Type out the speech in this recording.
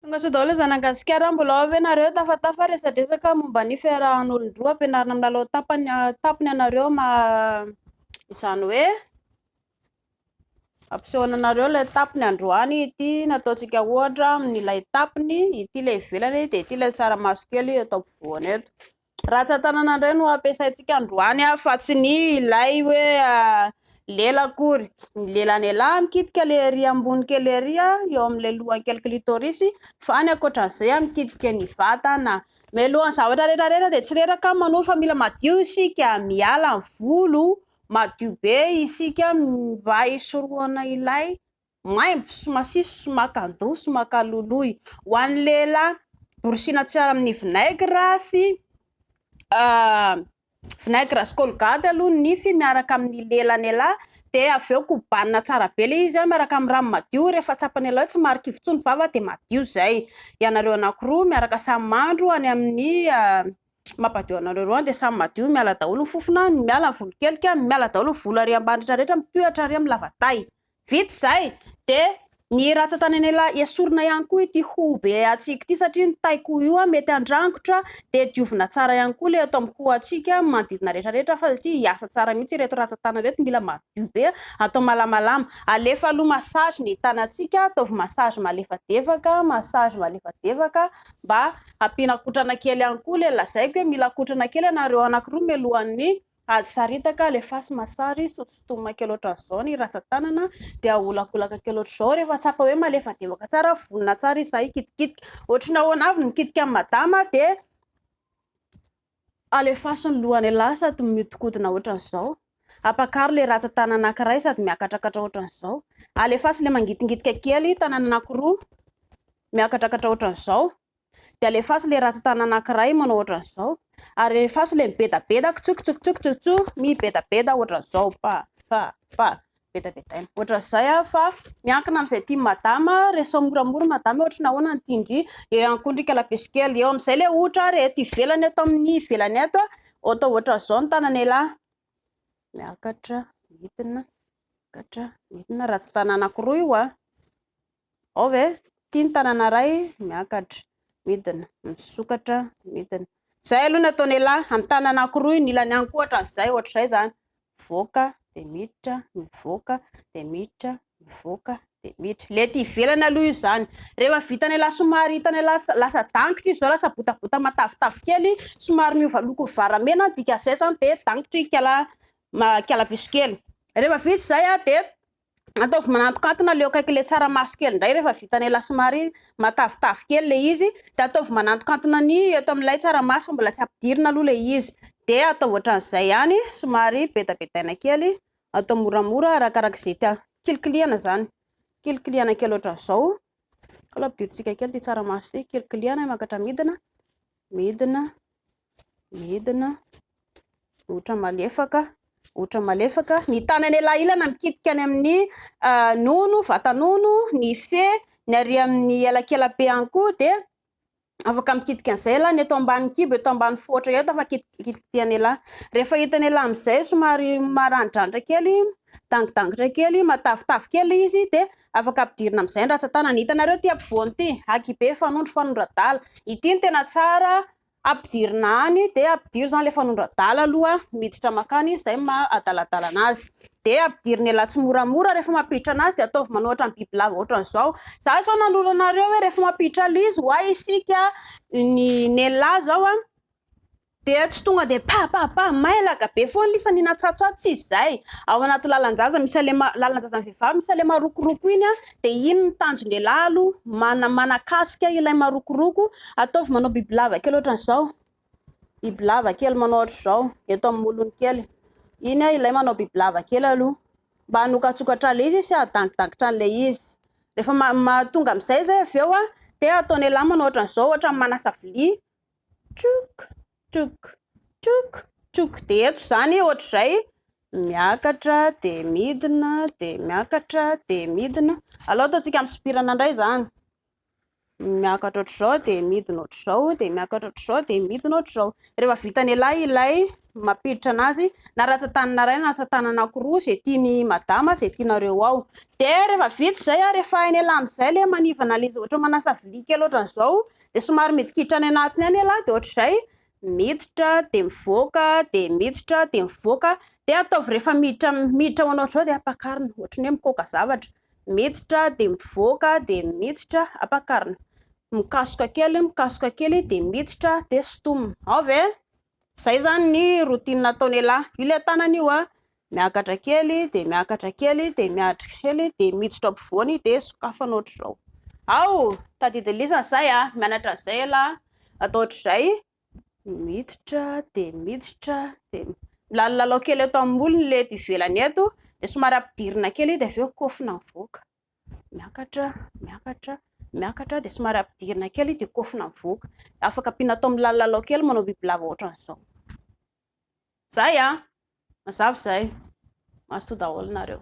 Tonga sao daholo zanany gasikara mbola ao ve nareo tafatafa resadresaka momba ny fiarahan'olondroa ampianarina milalao tapany tapony anareo ma izany hoe ampisehoana anareo ilay tapony androany ity nataontsika ohatra amin'ilay tapony ity ilay ivelany dia ity ilay tsaramaso kely eto ampovoany eto Ratsan-tanana indray no ampiasaintsika androany fa tsy ny ilay hoe lela akory. Ny lela an'ialahy mikitika ilay ery ambony kely ery eo amin'ilay lohany kely clitoris fa ny ankoatran'izay mikitika ny vatana. Mialohan'ny zavatra rehetra rehetra dia tsy reraka ny manoro fa mila madio isika, miala ny volo madio be isika mba hisorohana ilay. maimbo sy masiso sy makan-doha sy makaloloy. Ho an'ny lehilahy, borosina tsara amin'ny vinaigre sy vinaigre sy colgate aloha ny nify miaraka amin'ny lelany elah dia avy eo kobanina tsara be ilay izy miaraka amin'ny rano madio, rehefa tsapany elah hoe tsy marikivy intsony ny vava dia madio izay. Ianareo anankiroa miaraka samy mandro any amin'ny mampadio anareo roa any dia samy madio, miala daholo ny fofona, miala ny volokelikany, miala daholo ny volo ary ambadika rehetra, mitohy hatrany amin'ny lavatahy. Vita izay dia ny ratsan-tany anela esorina ihany koa ity hoho be hatsiaka ity satria ny taiko io mety handrangotra dia diovina tsara ihany koa ilay eto amin'ny hoho hatsiaka amin'ny manodidina rehetra rehetra fa satria hiasa tsara mihitsy ireto ratsan-tany ireto, mila madio be, atao malamalama, alefa aloha massage ny tanantsika, ataovy massage malefadefaka, massage malefadefaka mba hampiana kotrana kely ihany koa ilay lazaiko hoe mila kotrana kely ianareo anakiroa mialohan'ny Azo saritaka, alefaso masary, sotosotomina kely ohatran'izao ny ratsan-tanana dia aholakolaka kely ohatr'izao, rehefa tsapa hoe malefademaka tsara, vonona tsara izy izay hikitikitika. Ohatry ny ahoana avy ny mikitika an'i madama dia alefaso ny lohany ialahy sady mihodinkodina ohatran'izao, ampakaro ilay ratsan-tanana anankiray sady miakatrakatra ohatran'izao, alefaso ilay mangitingitika kely tanana anankiroa miakatrakatra ohatran'izao. Dia alefaso ilay ratsan-tanana anankiray manao ohatran'izao. Ary alefaso ilay mibedabeda, kitsokitsokitsokitsokitso, mibedabeda ohatran'izao. Pa, pa, pa. Bedabedaina. Ohatran'izay aho fa miankina amin'izay tian'i madama. Resaho moramora madama hoe ohatry ny ahoana ny tian-dry. Eo ihany koa ny ndry kalabesy kely. Eo amin'izay ilay ohatra ary eto ivelany, eto amin'ny ivelany eto, atao ohatran'izao ny tanan'ialahy. Miakatra, midina, miakatra, midina. Ratsan-tanana anankiroa io an. Ao ve? Ity ny tanana iray miakatra, midina, misokatra, midina. Izay aloha no ataon'ialahy, amin'ny tanana anankiroa iny ilany ihany koa ohatran'izay, ohatr'izay izany. Mivoaka, dia miditra, mivoaka, dia miditra, mivoaka, dia miditra. Ilay ety ivelany aloha io izany. Rehefa vitan'ialahy somary hitan'ialahy lasa dangitra izy izao, lasa botabota matavitavy kely, somary miova loko varamena, ny dikan'izay izany dia dangitry kala, kalabiso kely. Rehefa vita izay dia Ataovy manantokantona aleo akaiky le tsaramaso kely ndray refa vitany la somary matavitavy kely le izy de ataovy manantokantona ny eto amilay tsaramaso mbola tsy ampidirina aloha le izy de ataovy otran'izay ihany somary bedabedaina kely atao moramora arakaraka ze tian kilikilihana zany kilikilihana kely otran'izao kalo ampidirintsika kely ty tsaramaso ty kilikilihana mankatra midina Midina, midina, ohatra malefaka, ohatra malefaka. Ny tanany elailana mikitika any amin'ny nono, vata-nono, ny fe, ny ary amin'ny elakelabe ihany koa dia afaka mikitika an'izay elah, ny eto ambany kibo, eto ambany foatra eto afaka kitikitihana elah. Rehefa hitany elah amin'izay somary maranidranitra kely, midangidangitra kely, matavitavy kely ilay izy dia Afaka ampidirina amizay ny ratsatanana. Hitanareo ity ampovoany ity? Aky be fanondro, fanondro adala. Ity no tena tsara ampidirina any dia ampidiro izany ilay fanondro adala aloha miditra makany izay no maha adaladala anazy. Dia ampidirina elaha tsimoramora rehefa mampiditra anazy dia ataovy manao ohatran'ny bibilava ohatran'izao. Za izao nanoro anareo hoe rehefa mampiditra ilay izy hoay isika ny ny elaha izao an. Dia tsy tonga dia pa pa pa, mailaka be foana lisa ny natsatsoa, tsy izay. Ao anaty lalan-jaza misy alema, lalan-jazan'ny vehivavy misy alema rokoroko iny dia iny ny tanjon-dehilahy aloha, mana, manakasika ilay marokoroko, ataovy manao bibilava kely ohatran'izao, bibilava kely manao ohatr'izao eto amin'ny molony kely, iny ilay manao bibilava kely aloha mba hanokatsokatra an'ilay izy sy hahadangidankitra an'ilay izy. Rehefa ma, ma, tonga amin'izay izay avy eo dia ataon'ialahy manao ohatran'izao, ohatran'ny manasa vilia, Trook, trook, trook, trook. Dia eto izany ohatr'izay miakatra dia midina dia miakatra dia midina. Aleo ataontsika misopirana indray izany. Miakatra ohatr'izao dia midina ohatr'izao dia miakatra ohatr'izao dia midina ohatr'izao. Rehefa vitan'ialahy ilay mampiditra an'azy na ratsan-tanana iray na ratsan-tanana anankiroa izay tian'i madama izay tianareo ao. Dia rehefa vita izay ary efa hain'ialahy amin'izay ilay manivana ilay izy ohatra manasa vilia kely ohatran'izao dia somary midikiditra any anatiny any ialahy dia ohatr'izay miditra dia mivoaka dia miditra dia mivoaka dia ataovy rehefa miditra miditra ho anao izao dia ampakarina ohatry ny hoe mikoaka zavatra miditra dia mivoaka dia miditra ampakarina mikasoka kely mikasoka kely dia miditra dia sintomina ao ve izay izany ny routine ataon'ialahy io ilay tanana io an Miakatra kely dia miakatra kely dia miakatra kely dia miditra ampovoany dia sokafana ohatr'izao. Ao! Tadidy lisany izay a! Mianatra an'izay ialahy. Atao ohatr'izay. Miditra dia miditra dia milalalalao kely eto amin'ny molony ilay eto ivelany eto dia somary ampidirina kely dia avy eo kofona mivoaka. Miakatra, miakatra, miakatra dia somary ampidirina kely dia kofona mivoaka. Afaka ampiana atao milalalalao kely manao bibilava ohatrany izao. Zay an! Mazava izay. Mazotoa daholo nareo.